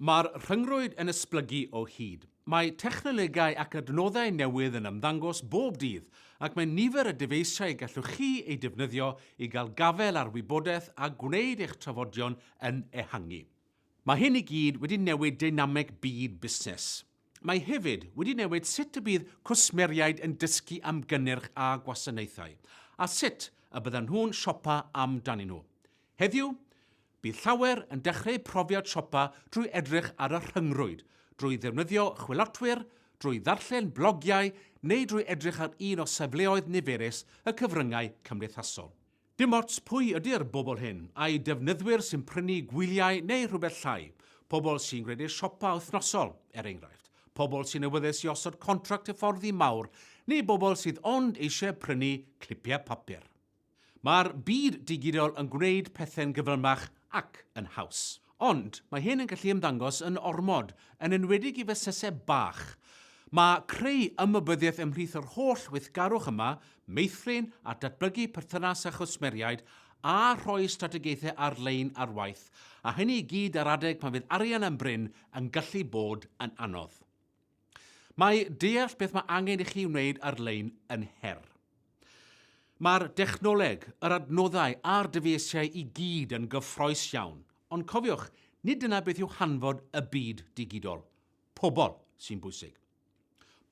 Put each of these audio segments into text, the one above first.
Mae'r rhyngrwyd yn esblygu o hyd. Mae technolegau ac adnoddau newydd yn ymddangos bob dydd, ac mae nifer y dyfeisiau y gallwch chi eu defnyddio i gael gafael ar wybodaeth a gwneud eich trafodion yn ehangu. Mae hyn i gyd wedi newid deinameg byd busnes. Mae hefyd wedi newid sut y bydd cwsmeriaid yn dysgu am gynnyrch a gwasanaethau, a sut y byddan nhw'n siopa amdanyn nhw. Heddiw, Bydd llawer yn dechreu profiad siopa drwy edrych ar y rhyngrwyd, drwy ddefnyddio chwilotwyr, drwy ddarllen blogiau neu drwy edrych ar un o safleoedd niferus y cyfryngau cymdeithasol. Dim ots pwy ydy'r bobl hyn, ai defnyddwyr sy'n prynu gwyliau neu rhywbeth llai, pobl sy'n gwneud eu siopa wythnosol, er enghraifft, pobl sy'n awyddus i osod contract hyfforddi mawr neu bobl sydd ond eisiau prynu clipiau papur. Mae'r byd digidol yn gwneud pethe'n gyflymach ac yn haws. Ond, mae hyn yn gallu ymddangos yn ormod, yn enwedig i fusnesau bach. Mae creu ymwybyddiaeth ymhlith yr holl weithgarwch yma, meithrin a datblygu perthynas â chwsmeriaid, a rhoi strategaethau ar-lein ar waith, a hynny i gyd ar adeg pan fydd arian yn brin, yn gallu bod yn anodd. Mae deall beth mae angen i chi wneud ar-lein yn her. Mae'r dechnoleg, yr adnoddau a'r dyfeisiau i gyd yn gyffroes iawn, ond cofiwch, nid dyna beth yw hanfod y byd digidol. Pobl sy'n bwysig.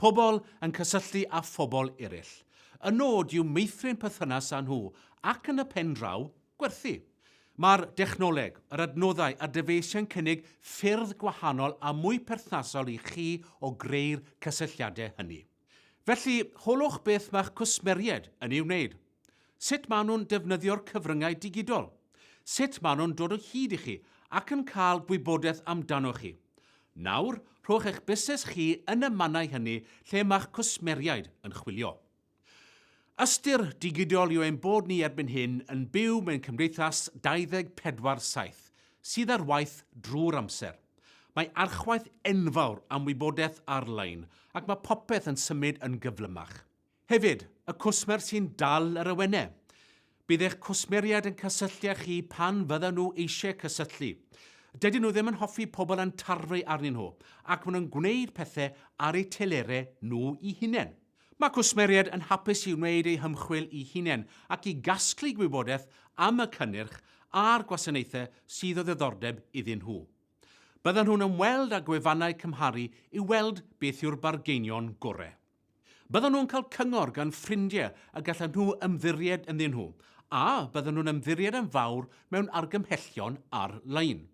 Pobl yn cysylltu â phobl eraill. Y nod yw meithrin perthynas â nhw ac yn y pen draw, Gwerthu. Mae'r dechnoleg, yr adnoddau a'r dyfeisiau'n cynnig ffyrdd gwahanol a mwy perthnasol i chi o greu'r cysylltiadau hynny. Felly, holwch beth mae'ch cwsmeriaid yn ei wneud. Sut maen nhw'n defnyddio'r cyfryngau digidol. Sut maen nhw'n dod o hyd i chi ac yn cael gwybodaeth amdanoch chi. Nawr, rhowch eich busnes chi yn y mannau hynny lle mae'ch cwsmeriaid yn chwilio. Ystyr digidol yw ein bod ni erbyn hyn yn byw mewn cymdeithas 24 7 sydd ar waith drwy'r amser. Mae archwaeth enfawr am wybodaeth ar-lein ac mae popeth yn symud yn gyflymach. Hefyd, y cwsmer sy'n dal yr awenau. Bydd eich cwsmeriaid yn cysylltu â chi pan fyddan nhw eisiau cysylltu. Dydyn nhw ddim yn hoffi pobl yn tarfu arnyn nhw, ac maen nhw'n gwneud pethau ar eu telerau nhw'u hunain. Mae cwsmeriaid yn hapus i wneud eu hymchwil eu hunain ac i gasglu gwybodaeth am y cynnyrch a'r gwasanaethau sydd o ddiddordeb iddyn nhw. Byddan nhw'n ymweld â gwefannau cymharu i weld beth yw'r bargeinion gorau. Byddan nhw'n cael cyngor gan ffrindiau y gallan nhw ymddiried ynddyn nhw, a byddan nhw'n ymddiried yn fawr mewn argymhellion ar-lein.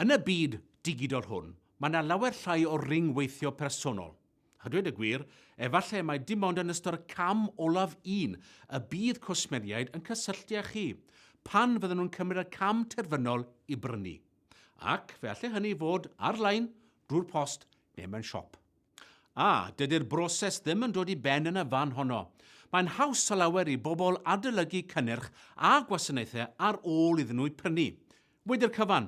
Yn y byd digidol hwn, mae 'na lawer llai o ryngweithio personol. A dweud y gwir, efallai mai dim ond yn ystod y cam olaf un y bydd cwsmeriaid yn cysylltu â chi, pan fyddan nhw'n cymryd y cam terfynol i brynu. Ac fe allai hynny fod ar-lein, drwy'r post neu mewn siop. A, dydy'r broses ddim yn dod i ben yn y fan honno. Mae'n haws ta lawer i bobl adolygu cynnyrch a gwasanaethau ar ôl iddyn nhw'u prynu. Wedi'r cyfan,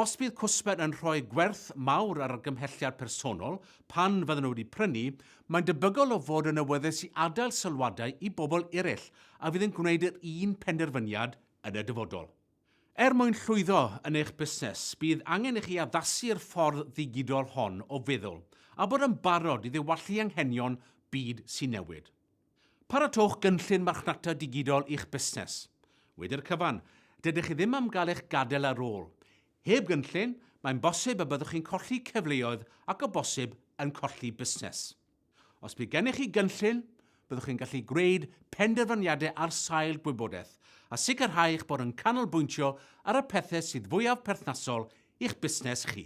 os bydd cwsmer yn rhoi gwerth mawr ar argymhelliad personol pan fydden nhw wedi prynu, mae'n debygol o fod yn awyddus i adael sylwadau i bobl eraill a fydd yn gwneud yr un penderfyniad yn y dyfodol. Er mwyn llwyddo yn eich busnes, bydd angen i chi addasu'r ffordd ddigidol hon o feddwl a bod yn barod i ddiwallu anghenion byd sy'n newid. Paratowch gynllun marchnata digidol i'ch busnes. Wedi'r cyfan, dydych chi ddim am gael eich gadael ar ôl. Heb gynllun, mae'n bosib y byddwch chi'n colli cyfleoedd ac o bosib yn colli busnes. Os bydd gennych chi gynllun, byddwch chi'n gallu gwneud penderfyniadau ar sail gwybodaeth a sicrhau eich bod yn canolbwyntio ar y pethau sydd fwyaf perthnasol i'ch busnes chi.